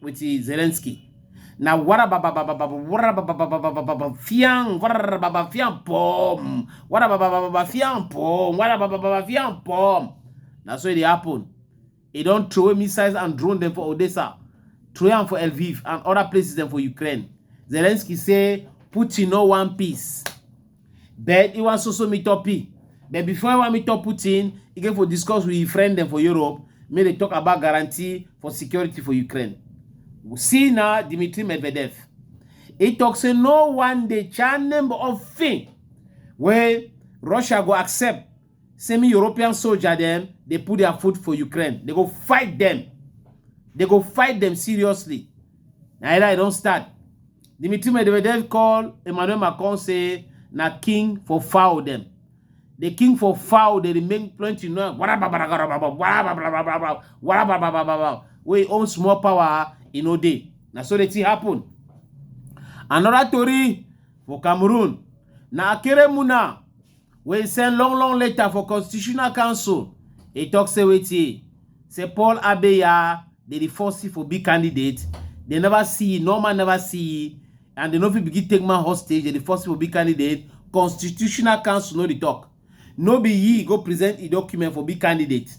with Zelensky. Na wara baba baba baba wara baba baba baba baba fiang wara baba fiang pom wara baba baba baba fiang pom wara baba baba fiang pom. Na so it dey happen. E don throw away missiles and drone dem for Odessa, throw am for Lviv and other places dem for Ukraine. Zelensky say Putin no wan peace. But he want so so meet up. But before he want meet up Putin, he get for discuss with his friend them for Europe. May they talk about guarantee for security for Ukraine. See now Dmitry Medvedev. He talk say no one day chan number of thing where Russia go accept semi European soldier them they put their foot for Ukraine. They go fight them. They go fight them seriously. Now I don't start. Dimitri Medvedev call Emmanuel Macron say na king for foul dem. The king for foul dey remain plenty now. Wey own small power e no dey. Na so the thing happen. Another tori for Cameroon. Na Akeremuna wey send long long letter for constitutional council e tok say wetin say paul abeya dey di force for big candidate dem never see e normal never see e and dem no fit begin take man hostage dey di force for big candidate constitutional council no dey tok no be e go present e document for big candidate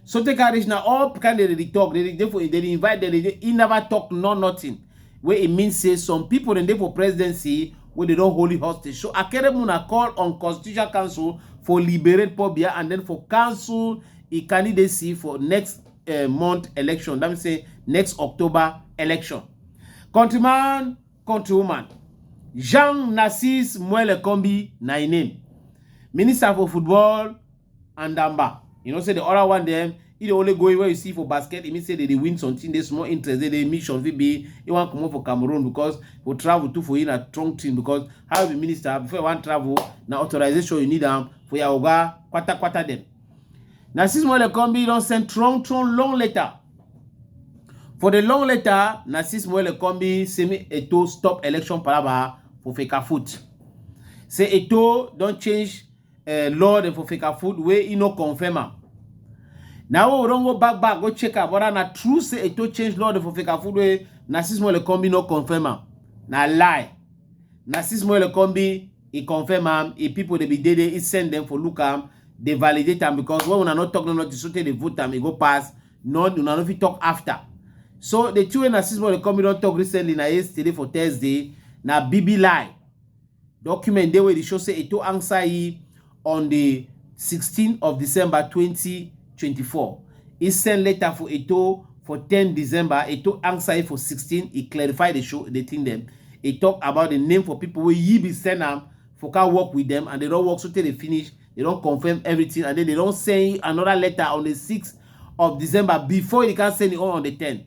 so take a reach na all kind dem dey talk dem dey for dem dey invite dem dey he never talk no nothing wey e mean say some people dem dey for presidency wey dey don holy hostage so akeremu na call on constitutional council for liberate pobia and then for council e candidacy for next uh, month election that mean say next october election countryman countrywoman jean narcisse muele kombi na im name minister for football and damba you know say the other one dem e dey only go where you see for basket e mean say they dey win something dey small interest dey dey mission fit be e wan comot for cameroon because for travel too for you na strong thing because how you be minister before you wan travel na authorization you need am for your oga kpatakpata dem na six months come be don send strong strong long letter for the long letter na six months come be semi eto stop election palava for fekafoot say eto don change uh, law dem for Fecafoot wey e no confirm am. Na we don go back back go check am whether na true say Eto change law dem for Fecafoot wey Narcis Molekombi no confirm am. Na lie. Narcis Molekombi e confirm am, e people dey be dey there, e send them for look am, dey validate am because when una no talk no nothing so tey dey vote am, e go pass, no una no fit talk after. So the thing wey Narcis Molekombi don talk recently na yesterday for Thursday na bibi lie. Document dey wey dey show say Eto'o answer yi on di sixteen of December twenty twenty four. E send letter for Eto'o for ten December, Eto'o answer yi for sixteen, e clarify di show di tin dem. E tok about di name for pipo wey yi bin send am for ka work wit dem and dem don work so tey dem finish, dem don confirm evritin and den dem don send yi anoda letter on di six of December bifor e ka send e own on di ten.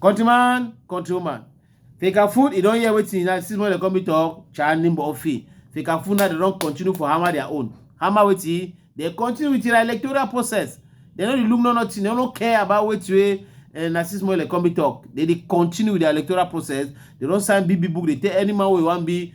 Countryman, countrywoman. Fika food, you don hear wetin na six months dem come me talk, Chani Murphy. Fika food now dem don continue for hammer their own. Hammer wetin? Dem continue with their electoral process. Dem no dey look no nothing, dem no care about wetin wey eh, na six months dem come me talk. Dem dey continue with their electoral process. Dem don sign big big book dey tell any man wey wan be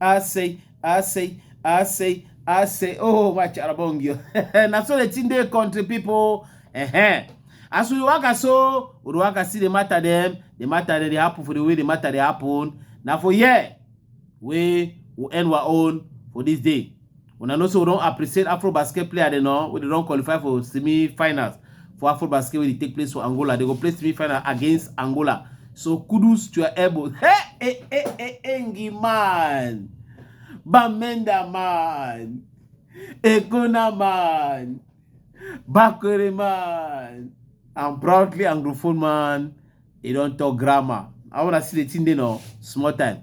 I say, I say, I say, I say, oh, watch Arabongio. That's all the thing they country people. Uh-huh. As we work so, we work see the matter them, the matter that they happen for the way the matter they happen. Now for yeah, we will end our own for this day. Una know say we don appreciate Afrobasket player dem now wey dey don qualify for semi-finals for Afrobasket wey dey take place for Angola. They go play semi-final against Angola. So kudos to your elbow. Hey, hey, hey, hey, Engi man. Bamenda man. Ekona man. Bakore man. I'm proudly Anglophone man. e don talk grammar i wanna see the thing dey no small time.